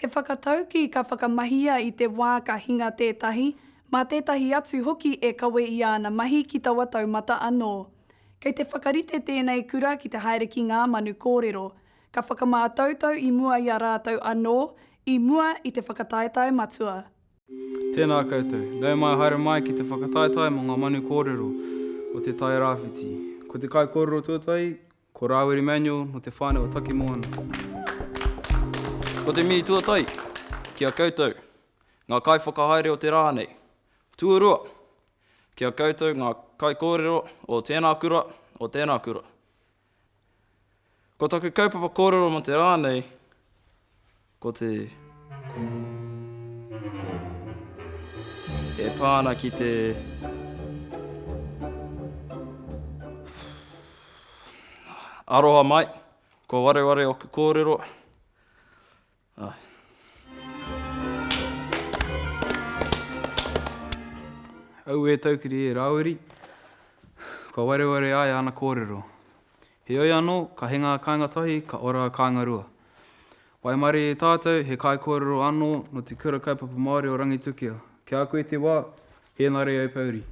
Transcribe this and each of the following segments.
He whakataukī ka whakamahia i te wā ka hinga tētahi, mā tētahi atu hoki e kawe i āna mahi ki taua taumata anō. Kei te whakarite tēnei kura ki te haere ki ngā manu kōrero, ka whakamātautau i mua i a rātou anō, i mua i te whakataetae matua. Tēnā koutou. Nau mai haere mai ki te whakataetae mō ngā manu kōrero o Te Tai Rāwhiti. Ko te kaikōrero tuatahi, ko Rāwiri Manuel nō te whānau o Takimoana. Ko te mihi tuatahi ki a koutou, ngā kaiwhakahaere o te rā nei. Tuarua, ki a koutou ngā kaikōrero o tēnā kura, o tēnā kura. Ko taku kaupapa kōrero mō te rā nei, ko te... E pā ana ki te... Aroha mai, ko wareware oku kōrero. Auē Taukiri e Rāwiri, kua wareware ai āna kōrero. Heoi anō, ka he ngā kāinga tahi, ka ora a kāinga rua. Waimarie e tātou, he kaikōrero anō nō te Kura Kaupapa Māori o Rangitukia. Kia koe te wā, Henare au pouri.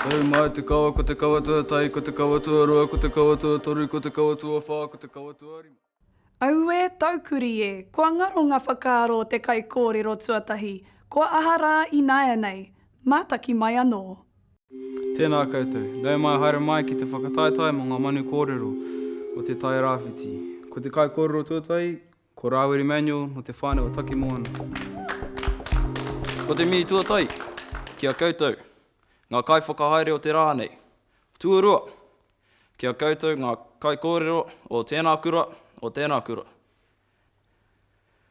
Tau mai te kawa ko te kawa tuatahi ko te kawa tuarua ko te kawa tuatoru ko te kawa tuawha ko te kawa tuarima. Aue taukuri e, kua ngaro nga whakaaro o te kaikōrero tuatahi, kua aha rā ināianei? Mātaki mai anō. Tēnā koutou. Nau mai haere mai ki te whakataetae mō ngā manu kōrero o Te Tairāwhiti. Ko te kaikōrero tuatahi, Ko Rāwiri Manuel nō te whānau o Takimoana. Ko te mihi tuatahi ki a koutou, ngā kaiwhakahaere o te rā nei. Tuarua, ki a koutou ngā kaikōrero o tēnā kura, o tēnā kura.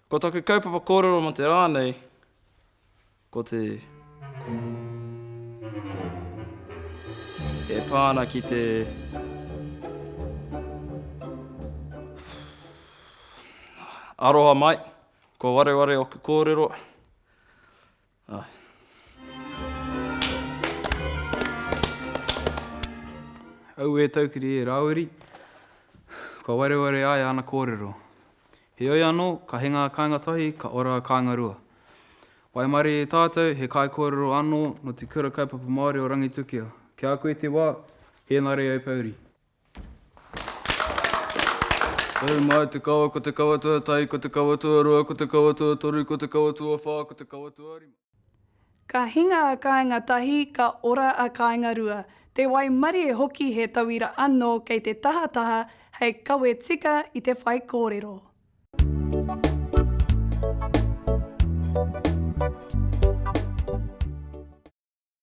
Ko taku kaupapa kōrero mō te rā nei, Ko te e pā ana ki te Aroha mai, ko wareware oku kōrero. Ah. Au e taukiri e Rāwiri, ko wareware ai ana kōrero. Heoi anō, ka he ngā kāinga tahi, ka ora a kāinga rua. Waimarie e tātou, he kaikōrero anō nō te Kura Kaupapa Māori o Rangitukia. Ki a koe te wā, hēnare au pouri. Tau mai te kawa, ko te kawa tuatahi, ko te kawa tuarua, ko te kawa tuatoru, ko te kawa tuawhā, ko te kawa tuarima. Ka hinga a kāinga tahi, ka ora a kāinga rua. Te waimarie hoki he tauira anō kei te tahataha hei kawe tika i te whaikōrero.